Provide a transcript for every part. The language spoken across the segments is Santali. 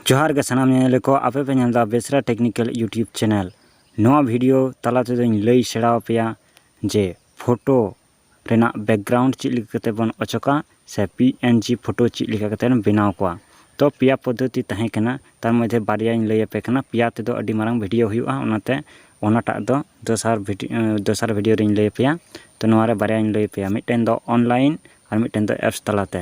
ᱡᱚᱦᱟᱨ ᱜᱮ ᱥᱟᱱᱟᱢ ᱧᱮᱧᱮᱞᱤᱭᱟᱹ ᱠᱚ ᱟᱯᱮ ᱯᱮ ᱧᱮᱞ ᱮᱫᱟ ᱵᱮᱥᱨᱟ ᱴᱮᱠᱱᱤᱠᱮᱞ ᱤᱭᱩᱴᱤᱭᱩᱵᱽ ᱪᱮᱱᱮᱞ ᱱᱚᱣᱟ ᱵᱷᱤᱰᱤᱭᱳ ᱛᱟᱞᱟ ᱛᱮᱫᱚᱧ ᱞᱟᱹᱭ ᱥᱮᱬᱟ ᱟᱯᱮᱭᱟ ᱡᱮ ᱯᱷᱳᱴᱳ ᱨᱮᱱᱟᱜ ᱵᱮᱠᱜᱨᱟᱣᱩᱱᱰ ᱪᱮᱫ ᱞᱮᱠᱟ ᱠᱟᱛᱮ ᱵᱚᱱ ᱚᱪᱚᱜᱟ ᱥᱮ ᱯᱤ ᱮᱱ ᱡᱤ ᱯᱷᱳᱴᱳ ᱪᱮᱫ ᱞᱮᱠᱟ ᱠᱟᱛᱮ ᱵᱮᱱᱟᱣ ᱠᱚᱣᱟ ᱛᱚ ᱯᱮᱭᱟ ᱯᱚᱫᱽᱫᱷᱚᱛᱤ ᱛᱟᱦᱮᱸ ᱠᱟᱱᱟ ᱛᱟᱨ ᱢᱚᱫᱽᱫᱷᱮ ᱵᱟᱨᱭᱟᱧ ᱞᱟᱹᱭ ᱟᱯᱮ ᱠᱟᱱᱟ ᱯᱮᱭᱟ ᱛᱮᱫᱚ ᱟᱹᱰᱤ ᱢᱟᱨᱟᱝ ᱵᱷᱤᱰᱤᱭᱳ ᱦᱩᱭᱩᱜᱼᱟ ᱚᱱᱟᱛᱮ ᱚᱱᱟᱴᱟᱜ ᱫᱚ ᱫᱚᱥᱟᱨ ᱵᱷᱤᱰᱤᱭᱳ ᱫᱚᱥᱟᱨ ᱵᱷᱤᱰᱤᱭᱳ ᱨᱮᱧ ᱞᱟᱹᱭ ᱟᱯᱮᱭᱟ ᱛᱚ ᱱᱚᱣᱟ ᱨᱮ ᱵᱟᱨᱭᱟᱧ ᱞᱟᱹᱭ ᱟᱯᱮᱭᱟ ᱢᱤᱫᱴᱮᱱ ᱫᱚ ᱚᱱᱞᱟᱭᱤᱱ ᱟᱨ ᱢᱤᱫᱴᱮᱱ ᱫᱚ ᱮᱯᱥ ᱛᱟᱞᱟᱛᱮ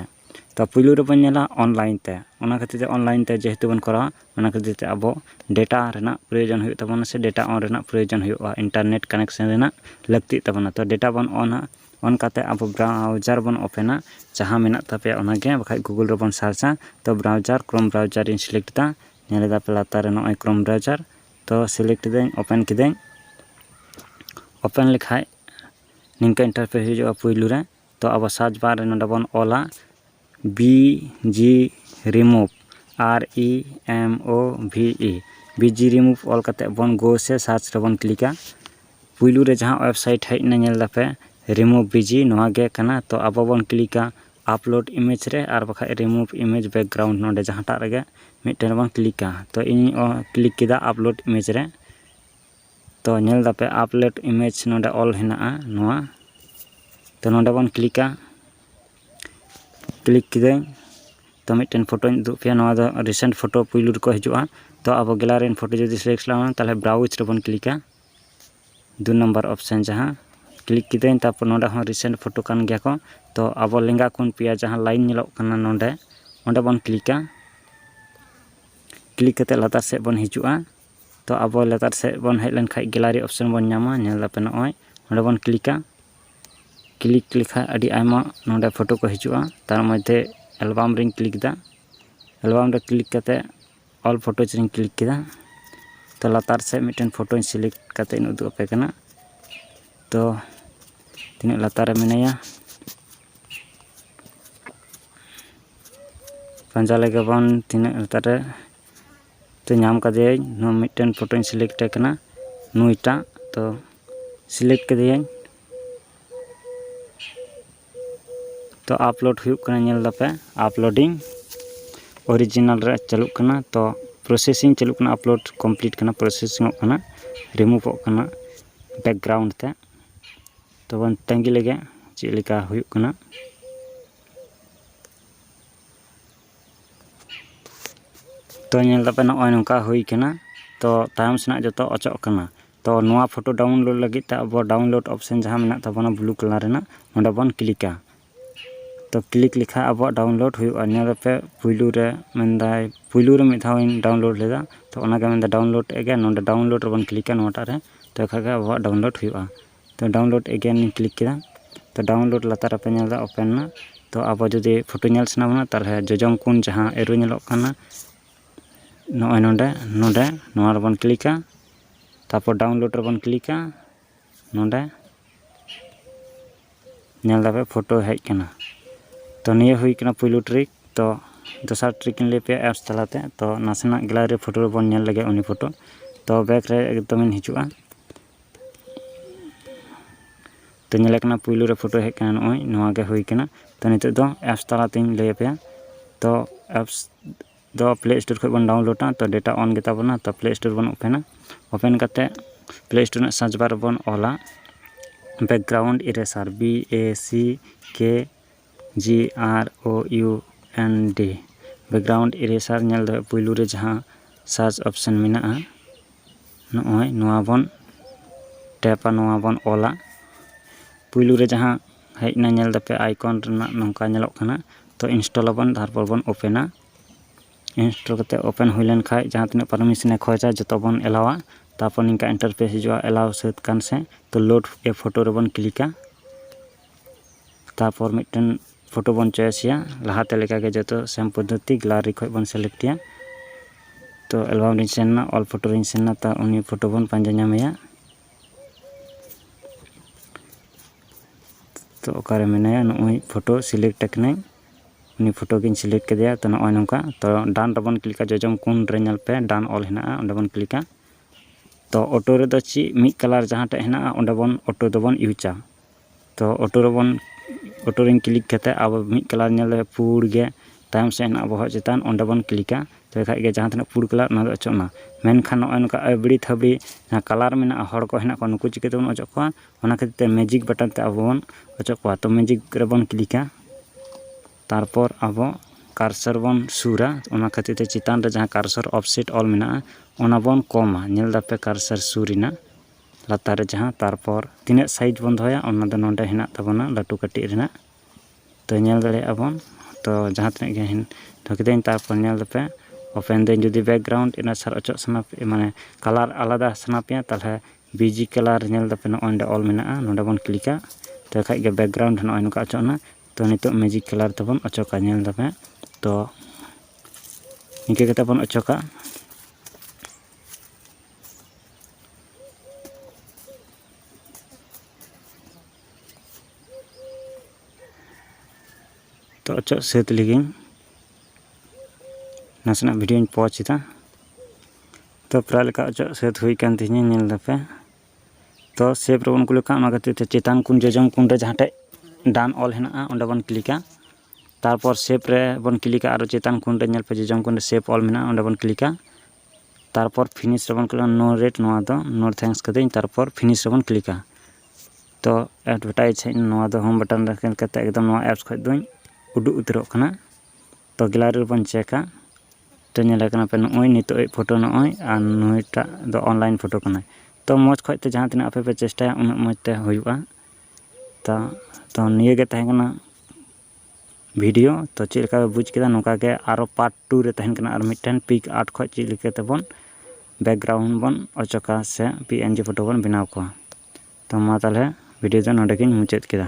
ᱛᱚ ᱯᱩᱭᱞᱩ ᱨᱮᱵᱚᱱ ᱧᱮᱞᱟ ᱚᱱᱞᱟᱭᱤᱱ ᱛᱮ ᱚᱱᱟ ᱠᱷᱟᱹᱛᱤᱨ ᱛᱮ ᱚᱱᱞᱟᱭᱤᱱ ᱛᱮ ᱡᱮᱦᱮᱛᱩ ᱵᱚᱱ ᱠᱚᱨᱟᱣᱟ ᱚᱱᱟ ᱠᱷᱟᱹᱛᱤᱨ ᱛᱮ ᱟᱵᱚ ᱰᱮᱴᱟ ᱨᱮᱱᱟᱜ ᱯᱨᱚᱭᱳᱡᱚᱱ ᱦᱩᱭᱩᱜ ᱛᱟᱵᱚᱱᱟ ᱥᱮ ᱰᱮᱴᱟ ᱚᱱ ᱨᱮᱱᱟᱜ ᱯᱨᱚᱭᱳᱡᱚᱱ ᱦᱩᱭᱩᱜᱼᱟ ᱤᱱᱴᱟᱨᱱᱮᱴ ᱠᱟᱱᱮᱠᱥᱮᱱ ᱨᱮᱱᱟᱜ ᱞᱟᱹᱠᱛᱤᱜ ᱛᱟᱵᱚᱱᱟ ᱛᱚ ᱰᱮᱴᱟ ᱵᱚᱱ ᱚᱱᱟ ᱚᱱ ᱠᱟᱛᱮᱫ ᱟᱵᱚ ᱵᱨᱟᱣᱡᱟᱨ ᱵᱚᱱ ᱳᱯᱮᱱᱟ ᱡᱟᱦᱟᱸ ᱢᱮᱱᱟᱜ ᱛᱟᱯᱮᱭᱟ ᱚᱱᱟᱜᱮ ᱵᱟᱠᱷᱟᱡ ᱜᱩᱜᱩᱞ ᱨᱮᱵᱚᱱ ᱥᱟᱨᱪᱟ ᱛᱚ ᱵᱨᱟᱣᱡᱟᱨ ᱠᱨᱳᱢ ᱵᱨᱟᱣᱡᱟᱨᱤᱧ ᱥᱤᱞᱮᱠᱴ ᱮᱫᱟ ᱧᱮᱞ ᱮᱫᱟᱯᱮ ᱞᱟᱛᱟᱨ ᱨᱮ ᱱᱚᱜᱼᱚᱭ ᱠᱨᱳᱢ ᱵᱨᱟᱣᱡᱟᱨ ᱛᱚ ᱥᱤᱞᱮᱠᱴ ᱮᱫᱟᱹᱧ ᱳᱯᱮᱱ ᱠᱤᱫᱟᱹᱧ ᱳᱯᱮᱱ ᱞᱮᱠᱷᱟᱡ ᱱᱤᱝᱠᱟᱹ ᱤᱱᱴᱟᱨᱯᱷᱮᱥ ᱦᱤᱡᱩᱜᱼᱟ ᱯᱩᱭᱞᱩ ᱨᱮ ᱛᱚ ᱟᱵᱚ ᱥᱟᱨᱪ ᱵᱟᱨ ᱨᱮ ᱱᱚᱰᱮ ᱵᱚᱱ ᱚᱞᱟ B G remove R E M O V E B G remove ᱚᱞ ᱠᱟᱛᱮᱫ ᱵᱚᱱ ᱜᱳ ᱥᱮ ᱥᱟᱨᱪ ᱨᱮᱵᱚᱱ ᱠᱞᱤᱠᱟ ᱯᱩᱭᱞᱩ ᱨᱮ ᱡᱟᱦᱟᱸ ᱳᱭᱮᱵᱽᱥᱟᱭᱤᱴ ᱦᱮᱡ ᱮᱱᱟ ᱧᱮᱞ ᱫᱟᱯᱮ ᱨᱤᱢᱩᱵᱷ ᱵᱤ ᱡᱤ ᱱᱚᱣᱟ ᱜᱮ ᱠᱟᱱᱟ ᱛᱚ ᱟᱵᱚ ᱵᱚᱱ ᱠᱞᱤᱠᱟ ᱟᱯᱞᱳᱰ ᱤᱢᱮᱡᱽ ᱨᱮ ᱟᱨ ᱵᱟᱠᱷᱟᱡ ᱨᱤᱢᱩᱵᱷ ᱤᱢᱮᱡᱽ ᱵᱮᱠᱜᱨᱟᱣᱩᱱᱰ ᱱᱚᱰᱮ ᱡᱟᱦᱟᱸᱴᱟᱜ ᱨᱮᱜᱮ ᱢᱤᱫᱴᱮᱱ ᱨᱮᱵᱚᱱ ᱠᱞᱤᱠᱟ ᱛᱚ ᱤᱧ ᱠᱞᱤᱠ ᱠᱮᱫᱟ ᱟᱯᱞᱳᱰ ᱤᱢᱮᱡᱽ ᱨᱮ ᱛᱚ ᱧᱮᱞ ᱫᱟᱯᱮ ᱟᱯᱞᱮᱴ ᱤᱢᱮᱡᱽ ᱱᱚᱰᱮ ᱚᱞ ᱦᱮᱱᱟᱜᱼᱟ ᱱᱚᱣᱟ ᱛᱚ ᱱᱚᱰᱮ ᱵᱚᱱ ᱠᱞᱤᱠᱟ ᱠᱞᱤᱠ ᱠᱤᱫᱟᱹᱧ ᱛᱚ ᱢᱤᱫᱴᱮᱱ ᱯᱷᱳᱴᱳᱧ ᱩᱫᱩᱜ ᱯᱮᱭᱟ ᱱᱚᱣᱟ ᱫᱚ ᱨᱤᱥᱮᱱᱴ ᱯᱷᱳᱴᱳ ᱯᱩᱭᱞᱩ ᱨᱮᱠᱚ ᱦᱤᱡᱩᱜᱼᱟ ᱛᱚ ᱟᱵᱚ ᱜᱮᱞᱟᱨᱤ ᱨᱮᱱ ᱯᱷᱳᱴᱳ ᱡᱩᱫᱤ ᱥᱤᱞᱮᱠᱴ ᱥᱟᱱᱟ ᱵᱚᱱᱟ ᱛᱟᱦᱚᱞᱮ ᱵᱨᱟᱣᱩᱡᱽ ᱨᱮᱵᱚᱱ ᱠᱞᱤᱠᱟ ᱫᱩ ᱱᱟᱢᱵᱟᱨ ᱚᱯᱥᱮᱱ ᱡᱟᱦᱟᱸ ᱠᱞᱤᱠ ᱠᱤᱫᱟᱹᱧ ᱛᱟᱨᱯᱚᱨ ᱱᱚᱰᱮ ᱦᱚᱸ ᱨᱤᱥᱮᱱᱴ ᱯᱷᱳᱴᱳ ᱠᱟᱱ ᱜᱮᱭᱟ ᱠᱚ ᱛᱚ ᱟᱵᱚ ᱞᱮᱸᱜᱟ ᱠᱷᱚᱱ ᱯᱮᱭᱟ ᱡᱟᱦᱟᱸ ᱞᱟᱭᱤᱱ ᱧᱮᱞᱚᱜ ᱠᱟᱱᱟ ᱱᱚᱰᱮ ᱚᱸᱰᱮ ᱵᱚᱱ ᱠᱞᱤᱠᱟ ᱠᱞᱤᱠ ᱠᱟᱛᱮᱫ ᱞᱟᱛᱟᱨ ᱥᱮᱫ ᱵᱚᱱ ᱦᱤᱡᱩᱜᱼᱟ ᱛᱚ ᱟᱵᱚ ᱞᱟᱛᱟᱨ ᱥᱮᱫ ᱵᱚᱱ ᱦᱮᱡ ᱞᱮᱱᱠᱷᱟᱱ ᱜᱮᱞᱟᱨᱤ ᱚᱯᱥᱮᱱ ᱵᱚᱱ ᱧᱟᱢᱟ ᱧᱮᱞ ᱮᱫᱟᱯᱮ ᱱᱚᱜᱼᱚᱭ ᱱᱚᱸᱰᱮ ᱵᱚᱱ ᱠᱞᱤᱠᱟ ᱠᱞᱤᱠ ᱞᱮᱠᱷᱟᱱ ᱟᱹᱰᱤ ᱟᱭᱢᱟ ᱱᱚᱸᱰᱮ ᱯᱷᱳᱴᱳ ᱠᱚ ᱦᱤᱡᱩᱜᱼᱟ ᱛᱟᱨ ᱢᱚᱫᱽᱫᱷᱮ ᱮᱞᱵᱟᱢ ᱨᱮᱧ ᱠᱞᱤᱠ ᱮᱫᱟ ᱮᱞᱵᱟᱢ ᱨᱮ ᱠᱞᱤᱠ ᱠᱟᱛᱮᱫ ᱚᱞ ᱯᱷᱳᱴᱳᱡᱽ ᱨᱮᱧ ᱠᱞᱤᱠ ᱠᱮᱫᱟ ᱛᱚ ᱞᱟᱛᱟᱨ ᱥᱮᱫ ᱢᱤᱫᱴᱮᱱ ᱯᱷᱳᱴᱳᱧ ᱥᱤᱞᱮᱠᱴ ᱠᱟᱛᱮᱫ ᱤᱧ ᱩᱫᱩᱜ ᱟᱯᱮ ᱠᱟᱱᱟ ᱛᱚ ᱛᱤᱱᱟᱹᱜ ᱞᱟᱛᱟᱨ ᱨᱮ ᱢᱮᱱᱟᱭᱟ ᱯᱟᱸᱡᱟ ᱞᱮᱜᱮ ᱵᱚᱱ ᱛᱤᱱᱟᱹᱜ ᱞᱟᱛᱟᱨ ᱨᱮ ᱛᱚ ᱧᱟᱢ ᱠᱟᱫᱮᱭᱟᱹᱧ ᱱᱚᱣᱟ ᱢᱤᱫᱴᱮᱱ ᱯᱷᱳᱴᱳᱧ ᱥᱤᱞᱮᱠᱴ ᱠᱟᱱᱟ ᱱᱩᱭᱴᱟᱜ ᱛᱚ ᱥᱤᱞᱮᱠᱴ ᱠᱟᱫᱮᱭᱟᱹᱧ ᱛᱚ ᱟᱯᱞᱳᱰ ᱦᱩᱭᱩᱜ ᱠᱟᱱᱟ ᱧᱮᱞ ᱫᱟᱯᱮ ᱟᱯᱞᱳᱰᱤᱝ ᱚᱨᱤᱡᱤᱱᱟᱞ ᱨᱮ ᱪᱟᱹᱞᱩᱜ ᱠᱟᱱᱟ ᱛᱚ ᱯᱨᱚᱥᱮᱥᱤᱝ ᱪᱟᱹᱞᱩᱜ ᱠᱟᱱᱟ ᱟᱯᱞᱳᱰ ᱠᱚᱢᱯᱞᱤᱴ ᱠᱟᱱᱟ ᱯᱨᱚᱥᱮᱥᱤᱝᱚᱜ ᱠᱟᱱᱟ ᱨᱤᱢᱩᱵᱷᱚᱜ ᱠᱟᱱᱟ ᱵᱮᱠᱜᱨᱟᱣᱩᱱᱰ ᱛᱮ ᱛᱚ ᱵᱚᱱ ᱛᱟᱺᱜᱤ ᱞᱮᱜᱮ ᱪᱮᱫ ᱞᱮᱠᱟ ᱦᱩᱭᱩᱜ ᱠᱟᱱᱟ ᱛᱚ ᱧᱮᱞ ᱫᱟᱯᱮ ᱱᱚᱜᱼᱚᱭ ᱱᱚᱝᱠᱟ ᱦᱩᱭ ᱠᱟᱱᱟ ᱛᱚ ᱛᱟᱭᱚᱢ ᱥᱮᱱᱟᱜ ᱡᱚᱛᱚ ᱚᱪᱚᱜ ᱠᱟᱱᱟ ᱛᱚ ᱱᱚᱣᱟ ᱯᱷᱳᱴᱳ ᱰᱟᱣᱩᱱᱞᱳᱰ ᱞᱟᱹᱜᱤᱫ ᱛᱮ ᱟᱵᱚ ᱰᱟᱣᱩᱱᱞᱳᱰ ᱚᱯᱥᱮᱱ ᱡᱟᱦᱟᱸ ᱢᱮᱱᱟᱜ ᱛᱟᱵᱚᱱᱟ ᱵᱞᱩ ᱠᱟᱞᱟᱨ ᱨᱮᱱᱟᱜ ᱱᱚᱸᱰᱮ ᱵᱚᱱ ᱠᱞᱤᱠᱟ ᱛᱚ ᱠᱞᱤᱠ ᱞᱮᱠᱷᱟᱱ ᱟᱵᱚᱣᱟᱜ ᱰᱟᱣᱩᱱᱞᱳᱰ ᱦᱩᱭᱩᱜᱼᱟ ᱧᱮᱞ ᱫᱟᱯᱮ ᱯᱩᱭᱞᱩ ᱨᱮ ᱢᱮᱱᱫᱟᱭ ᱯᱩᱭᱞᱩ ᱨᱮ ᱢᱤᱫ ᱫᱷᱟᱣᱤᱧ ᱰᱟᱣᱩᱱᱞᱳᱰ ᱞᱮᱫᱟ ᱛᱚ ᱚᱱᱟᱜᱮ ᱢᱮᱱᱫᱟᱭ ᱰᱟᱣᱩᱱᱞᱳᱰ ᱮᱜᱮᱭᱱ ᱱᱚᱸᱰᱮ ᱰᱟᱣᱩᱱᱞᱳᱰ ᱨᱮᱵᱚᱱ ᱠᱞᱤᱠᱟ ᱱᱚᱣᱟᱴᱟᱜ ᱨᱮ ᱛᱚ ᱮᱱᱠᱷᱟᱱ ᱜᱮ ᱟᱵᱚᱣᱟᱜ ᱰᱟᱣᱩᱱᱞᱳᱰ ᱦᱩᱭᱩᱜᱼᱟ ᱛᱚ ᱰᱟᱣᱩᱱᱞᱳᱰ ᱮᱜᱮᱭᱤᱱ ᱤᱧ ᱠᱞᱤᱠ ᱠᱮᱫᱟ ᱛᱚ ᱰᱟᱣᱩᱱᱞᱳᱰ ᱞᱟᱛᱟᱨ ᱨᱮᱯᱮ ᱧᱮᱞ ᱮᱫᱟ ᱳᱯᱮᱱ ᱮᱱᱟ ᱛᱚ ᱟᱵᱚ ᱡᱩᱫᱤ ᱯᱷᱳᱴᱳ ᱧᱮᱞ ᱥᱟᱱᱟ ᱵᱚᱱᱟ ᱛᱟᱦᱚᱞᱮ ᱡᱚᱡᱚᱢ ᱠᱚᱱ ᱡᱟᱦᱟᱸ ᱮᱨᱳ ᱧᱮᱞᱚᱜ ᱠᱟᱱᱟ ᱱᱚᱜᱼᱚᱭ ᱱᱚᱰᱮ ᱱᱚᱰᱮ ᱱᱚᱣᱟ ᱨᱮᱵᱚᱱ ᱠᱞᱤᱠᱟ ᱛᱟᱨᱯᱚᱨ ᱰᱟᱣᱩᱱᱞᱳᱰ ᱨᱮᱵᱚᱱ ᱠᱞᱤᱠᱟ ᱱᱚᱰᱮ ᱧᱮᱞ ᱫᱟᱯᱮ ᱯᱷᱳᱴᱳ ᱦᱮᱡ ᱠᱟᱱᱟ ᱛᱚ ᱱᱤᱭᱟᱹ ᱦᱩᱭ ᱠᱟᱱᱟ ᱯᱩᱭᱞᱩ ᱴᱨᱤᱠ ᱛᱚ ᱫᱚᱥᱟᱨ ᱴᱨᱤᱠ ᱤᱧ ᱞᱟᱹᱭ ᱯᱮᱭᱟ ᱮᱯᱥ ᱛᱟᱞᱟᱛᱮ ᱛᱚ ᱱᱟᱥᱮᱱᱟᱜ ᱜᱮᱞᱟᱨᱤ ᱯᱷᱳᱴᱳ ᱨᱮᱵᱚᱱ ᱧᱮᱞ ᱞᱮᱜᱮ ᱩᱱᱤ ᱯᱷᱳᱴᱳ ᱛᱚ ᱵᱮᱠ ᱨᱮ ᱮᱠᱫᱚᱢ ᱤᱧ ᱦᱤᱡᱩᱜᱼᱟ ᱛᱚ ᱧᱮᱞᱮ ᱠᱟᱱᱟ ᱯᱩᱭᱞᱩ ᱨᱮ ᱯᱷᱳᱴᱳ ᱦᱮᱡ ᱠᱟᱱᱟ ᱱᱚᱜᱼᱚᱭ ᱱᱚᱣᱟ ᱜᱮ ᱦᱩᱭ ᱠᱟᱱᱟ ᱛᱚ ᱱᱤᱛᱚᱜ ᱫᱚ ᱮᱯᱥ ᱛᱟᱞᱟᱛᱮᱧ ᱞᱟᱹᱭ ᱟᱯᱮᱭᱟ ᱛᱚ ᱮᱯᱥ ᱫᱚ ᱯᱞᱮ ᱥᱴᱳᱨ ᱠᱷᱚᱱ ᱵᱚᱱ ᱰᱟᱣᱩᱱᱞᱳᱰᱟ ᱛᱚ ᱰᱮᱴᱟ ᱚᱱ ᱜᱮᱛᱟ ᱵᱚᱱᱟ ᱛᱚ ᱯᱞᱮ ᱥᱴᱳᱨ ᱵᱚᱱ ᱳᱯᱮᱱᱟ ᱳᱯᱮᱱ ᱠᱟᱛᱮ ᱯᱞᱮ ᱥᱴᱳᱨ ᱨᱮᱱᱟᱜ ᱥᱟᱨᱪ ᱵᱟᱨ ᱨᱮᱵᱚᱱ ᱚᱞᱟ background eraser B A C K G R O U N D background eraser ᱧᱮᱞ ᱫᱚ ᱯᱳᱭᱞᱳ ᱨᱮ ᱡᱟᱦᱟᱸ ᱥᱟᱨᱪ ᱚᱯᱷᱥᱮᱱ ᱢᱮᱱᱟᱜᱼᱟ ᱱᱚᱜᱼᱚᱭ ᱱᱚᱣᱟ ᱵᱚᱱ ᱴᱮᱯᱟ ᱱᱚᱣᱟ ᱵᱚᱱ ᱚᱞᱟ ᱯᱳᱭᱞᱳ ᱨᱮ ᱡᱟᱦᱟᱸ ᱦᱮᱡ ᱮᱱᱟ ᱧᱮᱞ ᱫᱟᱯᱮ ᱟᱭᱠᱚᱱ ᱨᱮᱱᱟᱜ ᱱᱚᱝᱠᱟ ᱧᱮᱞᱚᱜ ᱠᱟᱱᱟ ᱛᱳ ᱤᱱᱥᱴᱚᱞ ᱟᱵᱚᱱ ᱛᱟᱨᱯᱚᱨ ᱵᱚᱱ ᱳᱯᱮᱱᱟ ᱤᱱᱥᱴᱚᱞ ᱠᱟᱛᱮᱫ ᱳᱯᱮᱱ ᱦᱩᱭ ᱞᱮᱱᱠᱷᱟᱱ ᱡᱟᱦᱟᱸ ᱛᱤᱱᱟᱹᱜ ᱯᱟᱨᱢᱤᱥᱚᱱᱮ ᱠᱷᱚᱡᱟ ᱡᱚᱛᱚ ᱵᱚᱱ ᱮᱞᱟᱣᱟ ᱛᱟᱨᱯᱚᱨ ᱱᱤᱝᱠᱟ ᱤᱱᱴᱟᱨᱯᱷᱮᱥ ᱦᱤᱡᱩᱜᱼᱟ ᱮᱞᱟᱣ ᱥᱟᱹᱛ ᱟᱠᱟᱱ ᱥᱮ ᱛᱳ ᱞᱳᱰ ᱮ ᱯᱷᱳᱴᱳ ᱨᱮᱵᱚᱱ ᱠᱞᱤᱠᱟ ᱛᱟᱨᱯᱚᱨ ᱢᱤᱫᱴᱮᱱ ᱯᱷᱳᱴᱳ ᱵᱚᱱ ᱪᱚᱭᱮᱥ ᱮᱭᱟ ᱞᱟᱦᱟᱛᱮ ᱞᱮᱠᱟᱜᱮ ᱡᱚᱛᱚ ᱥᱮᱢ ᱯᱚᱫᱽᱫᱷᱚᱛᱤ ᱜᱮᱞᱟᱨᱤ ᱠᱷᱚᱱ ᱵᱚᱱ ᱥᱤᱞᱮᱠᱴ ᱮᱭᱟ ᱛᱳ ᱮᱞᱵᱟᱢ ᱨᱤᱧ ᱥᱮᱱ ᱮᱱᱟ ᱚᱞ ᱯᱷᱳᱴᱳ ᱨᱤᱧ ᱥᱮᱱ ᱮᱱᱟ ᱛᱳ ᱩᱱᱤ ᱯᱷᱳᱴᱳ ᱵᱚᱱ ᱯᱟᱸᱡᱟ ᱧᱟᱢᱮᱭᱟ ᱛᱳ ᱚᱠᱟᱨᱮ ᱢᱮᱱᱟᱭᱟ ᱱᱩᱜᱼᱩᱭ ᱯᱷᱳᱴᱳ ᱥᱤᱞᱮᱠᱴ ᱟᱠᱟᱱᱟᱹᱧ ᱩᱱᱤ ᱯᱷᱳᱴᱳ ᱜᱤᱧ ᱥᱤᱞᱮᱠᱴ ᱠᱮᱫᱮᱭᱟ ᱛᱳ ᱱᱚᱜᱼᱚᱭ ᱱᱚᱝᱠᱟ ᱛᱳ ᱰᱟᱱ ᱨᱮᱵᱚᱱ ᱠᱞᱤᱠᱟ ᱡᱚᱡᱚᱢ ᱠᱚᱱ ᱨᱮ ᱧᱮᱞ ᱯᱮ ᱰᱟᱱ ᱚᱞ ᱦᱮᱱᱟᱜᱼᱟ ᱚᱸᱰᱮ ᱵᱚᱱ ᱠᱞᱤᱠᱟ ᱛᱳ ᱚᱴᱳ ᱨᱮᱫᱚ ᱪᱮᱫ ᱢᱤᱫ ᱠᱟᱞᱟᱨ ᱡᱟᱦᱟᱸ ᱴᱷᱮᱱ ᱦᱮᱱᱟᱜᱼᱟ ᱚᱸᱰᱮ ᱵᱚᱱ ᱚᱴᱳ ᱫᱚᱵᱚᱱ ᱤᱭᱩᱡᱟ ᱛᱚ ᱚᱴᱳ ᱨᱮᱵᱚᱱ ᱚᱴᱳ ᱨᱮᱧ ᱠᱞᱤᱠ ᱠᱟᱛᱮᱫ ᱟᱵᱚ ᱢᱤᱫ ᱠᱟᱞᱟᱨ ᱧᱮᱞ ᱞᱮᱜᱮ ᱯᱩᱸᱲ ᱜᱮ ᱛᱟᱭᱚᱢ ᱥᱮᱫ ᱦᱮᱱᱟᱜᱼᱟ ᱵᱚᱦᱚᱜ ᱪᱮᱛᱟᱱ ᱚᱸᱰᱮ ᱵᱚᱱ ᱠᱞᱤᱠᱟ ᱛᱚᱵᱮ ᱠᱷᱟᱱ ᱜᱮ ᱡᱟᱦᱟᱸ ᱛᱤᱱᱟᱹᱜ ᱯᱩᱲ ᱠᱟᱞᱟᱨ ᱚᱱᱟ ᱫᱚ ᱚᱪᱚᱜ ᱮᱱᱟ ᱢᱮᱱᱠᱷᱟᱱ ᱱᱚᱜᱼᱚᱸᱭ ᱱᱚᱝᱠᱟ ᱟᱹᱵᱽᱲᱤ ᱛᱷᱟᱹᱵᱽᱲᱤ ᱡᱟᱦᱟᱸ ᱠᱟᱞᱟᱨ ᱢᱮᱱᱟᱜᱼᱟ ᱦᱚᱲ ᱠᱚ ᱦᱮᱱᱟᱜ ᱠᱚᱣᱟ ᱱᱩᱠᱩ ᱪᱤᱠᱟᱹ ᱛᱮᱵᱚᱱ ᱚᱪᱚᱜ ᱠᱚᱣᱟ ᱚᱱᱟ ᱠᱷᱟᱹᱛᱤᱨ ᱛᱮ ᱢᱮᱡᱤᱠ ᱵᱟᱴᱚᱱ ᱛᱮ ᱟᱵᱚ ᱵᱚᱱ ᱚᱪᱚᱜ ᱠᱚᱣᱟ ᱛᱚ ᱢᱮᱡᱤᱠ ᱨᱮᱵᱚᱱ ᱠᱞᱤᱠᱟ ᱛᱟᱨᱯᱚᱨ ᱟᱵᱚ ᱠᱟᱨᱥᱚᱨ ᱵᱚᱱ ᱥᱩᱨᱟ ᱚᱱᱟ ᱠᱷᱟᱹᱛᱤᱨ ᱛᱮ ᱪᱮᱛᱟᱱ ᱨᱮ ᱡᱟᱦᱟᱸ ᱠᱟᱨᱥᱚᱨ ᱚᱯᱷᱥᱮᱴ ᱚᱞ ᱢᱮᱱᱟᱜᱼᱟ ᱚᱱᱟ ᱵᱚᱱ ᱠᱚᱢᱟ ᱧᱮᱞ ᱮᱫᱟᱯᱮ ᱠᱟᱨᱥᱚᱨ ᱥᱩᱨ ᱮᱱᱟ ᱞᱟᱛᱟᱨ ᱨᱮ ᱡᱟᱦᱟᱸ ᱛᱟᱨᱯᱚᱨ ᱛᱤᱱᱟᱹᱜ ᱥᱟᱭᱤᱡᱽ ᱵᱚᱱ ᱫᱚᱦᱚᱭᱟ ᱚᱱᱟ ᱫᱚ ᱱᱚᱰᱮ ᱦᱮᱱᱟᱜ ᱛᱟᱵᱚᱱᱟ ᱞᱟᱹᱴᱩ ᱠᱟᱹᱴᱤᱡ ᱨᱮᱱᱟᱜ ᱛᱚ ᱧᱮᱞ ᱫᱟᱲᱮᱭᱟᱜ ᱟᱵᱚᱱ ᱛᱚ ᱡᱟᱦᱟᱸ ᱛᱤᱱᱟᱹᱜ ᱜᱮ ᱫᱚᱦᱚ ᱠᱤᱫᱟᱹᱧ ᱛᱟᱨᱯᱚᱨ ᱧᱮᱞ ᱯᱮ ᱳᱯᱮᱱ ᱫᱟᱹᱧ ᱡᱩᱫᱤ ᱵᱮᱠᱜᱨᱟᱣᱩᱱᱰ ᱤᱱᱟᱹ ᱥᱟᱨ ᱚᱪᱚᱜ ᱥᱟᱱᱟ ᱯᱮ ᱢᱟᱱᱮ ᱠᱟᱞᱟᱨ ᱟᱞᱟᱫᱟ ᱥᱟᱱᱟ ᱯᱮᱭᱟ ᱛᱟᱦᱚᱞᱮ ᱵᱤᱡᱤ ᱠᱟᱞᱟᱨ ᱧᱮᱞ ᱫᱟᱯᱮ ᱱᱚᱜᱼᱚᱭ ᱱᱚᱰᱮ ᱚᱞ ᱢᱮᱱᱟᱜᱼᱟ ᱱᱚᱰᱮ ᱵᱚᱱ ᱠᱞᱤᱠᱟ ᱛᱚ ᱠᱷᱟᱱ ᱜᱮ ᱵᱮᱠᱜᱨᱟᱣᱩᱱᱰ ᱱᱚᱜᱼᱚᱭ ᱱᱚᱝᱠᱟ ᱚᱪᱚᱜ ᱮᱱᱟ ᱛᱚ ᱱᱤᱛᱚᱜ ᱢᱮᱡᱤᱠ ᱠᱟᱞᱟᱨ ᱛᱮᱵᱚᱱ ᱚᱪᱚᱜᱟ ᱧᱮᱞ ᱫᱟᱯᱮ ᱛᱚ ᱤᱱᱠᱟᱹ ᱠᱟᱛᱮᱫ ᱵᱚᱱ ᱚᱪᱚᱜᱟ ᱛᱚ ᱚᱪᱚᱜ ᱥᱟᱹᱛ ᱞᱮᱜᱤᱧ ᱱᱟᱥᱮᱱᱟᱜ ᱵᱷᱤᱰᱤᱭᱳᱧ ᱯᱚᱡᱽ ᱮᱫᱟ ᱛᱚ ᱯᱨᱟᱭ ᱞᱮᱠᱟ ᱚᱪᱚᱜ ᱥᱟᱹᱛ ᱦᱩᱭ ᱠᱟᱱ ᱛᱤᱧᱟᱹ ᱧᱮᱞ ᱫᱟᱯᱮ ᱛᱚ ᱥᱮᱵᱷ ᱨᱮᱵᱚᱱ ᱠᱩᱞ ᱠᱟᱜᱼᱟ ᱚᱱᱟ ᱠᱷᱟᱹᱛᱤᱨ ᱛᱮ ᱪᱮᱛᱟᱱ ᱠᱩᱱ ᱡᱚᱡᱚᱢ ᱠᱩᱱ ᱨᱮ ᱡᱟᱦᱟᱸ ᱴᱷᱮᱡ ᱰᱟᱱ ᱚᱞ ᱦᱮᱱᱟᱜᱼᱟ ᱚᱸᱰᱮ ᱵᱚᱱ ᱠᱞᱤᱠᱟ ᱛᱟᱨᱯᱚᱨ ᱥᱮᱵᱷ ᱨᱮᱵᱚᱱ ᱠᱞᱤᱠᱟ ᱟᱨᱚ ᱪᱮᱛᱟᱱ ᱠᱩᱱ ᱨᱮ ᱧᱮᱞ ᱯᱮ ᱡᱚᱡᱚᱢ ᱠᱩᱱ ᱨᱮ ᱥᱮᱵᱷ ᱚᱞ ᱢᱮᱱᱟᱜᱼᱟ ᱚᱸᱰᱮ ᱵᱚᱱ ᱠᱞᱤᱠᱟ ᱛᱟᱨᱯᱚᱨ ᱯᱷᱤᱱᱤᱥ ᱨᱮᱵᱚᱱ ᱠᱞᱤᱠᱟ ᱱᱳ ᱨᱮᱴ ᱱᱚᱣᱟ ᱫᱚ ᱱᱳ ᱛᱷᱮᱝᱠᱥ ᱠᱟᱹᱫᱟᱹᱧ ᱛᱟᱨᱯᱚᱨ ᱯᱷᱤᱱᱤᱥ ᱨᱮᱵᱚᱱ ᱠᱞᱤᱠᱟ ᱛᱚ ᱮᱰᱵᱷᱮᱴᱟᱭᱤᱡᱽ ᱦᱮᱡ ᱮᱱᱟ ᱱᱚᱣᱟ ᱫᱚ ᱦᱳᱢ ᱵᱟᱴᱚᱱ ᱨᱮ ᱠᱞᱤᱠ ᱠᱟᱛᱮᱫ ᱮᱠᱫᱚᱢ ᱱᱚᱣᱟ ᱮᱯᱥ ᱠᱷᱚᱱ ᱫᱚᱧ ᱩᱰᱩᱠ ᱩᱛᱟᱹᱨᱚᱜ ᱠᱟᱱᱟ ᱛᱚ ᱜᱮᱞᱟᱨᱤ ᱨᱮᱵᱚᱱ ᱪᱮᱠᱟ ᱛᱚ ᱧᱮᱞᱮ ᱠᱟᱱᱟ ᱯᱮ ᱱᱚᱜᱼᱚᱭ ᱱᱤᱛᱚᱜ ᱤᱡ ᱯᱷᱳᱴᱳ ᱱᱚᱜᱼᱚᱭ ᱟᱨ ᱱᱩᱭᱴᱟᱜ ᱫᱚ ᱚᱱᱞᱟᱭᱤᱱ ᱯᱷᱳᱴᱳ ᱠᱟᱱᱟ ᱛᱚ ᱢᱚᱡᱽ ᱠᱷᱚᱱ ᱛᱮ ᱡᱟᱦᱟᱸ ᱛᱤᱱᱟᱹᱜ ᱟᱯᱮ ᱯᱮ ᱪᱮᱥᱴᱟᱭᱟ ᱩᱱᱟᱹᱜ ᱢᱚᱡᱽ ᱛᱮ ᱦᱩᱭᱩᱜᱼᱟ ᱛᱚ ᱛᱚ ᱱᱤᱭᱟᱹᱜᱮ ᱛᱟᱦᱮᱸ ᱠᱟᱱᱟ ᱵᱷᱤᱰᱤᱭᱳ ᱛᱚ ᱪᱮᱫ ᱞᱮᱠᱟ ᱯᱮ ᱵᱩᱡᱽ ᱠᱮᱫᱟ ᱱᱚᱝᱠᱟ ᱜᱮ ᱟᱨᱚ ᱯᱟᱨᱴ ᱴᱩ ᱨᱮ ᱛᱟᱦᱮᱱ ᱠᱟᱱᱟ ᱟᱨ ᱢᱤᱫᱴᱮᱱ ᱯᱤᱠ ᱟᱨᱴ ᱠᱷᱚᱡ ᱪᱮᱫ ᱞᱮᱠᱟ ᱛᱮᱵᱚᱱ ᱵᱮᱠᱜᱨᱟᱣᱩᱱᱰ ᱵᱚᱱ ᱚᱪᱚᱜᱟ ᱥᱮ ᱯᱤ ᱮᱱ ᱡᱤ ᱯᱷᱳᱴᱳ ᱵᱚᱱ ᱵᱮᱱᱟᱣ ᱠᱚᱣᱟ ᱛᱚ ᱢᱟ ᱛᱟᱦᱚᱞᱮ ᱵᱷᱤᱰᱤᱭᱳ ᱫᱚ ᱱᱚᱰᱮ ᱜᱮᱧ ᱢᱩᱪᱟᱹᱫ ᱠᱮᱫᱟ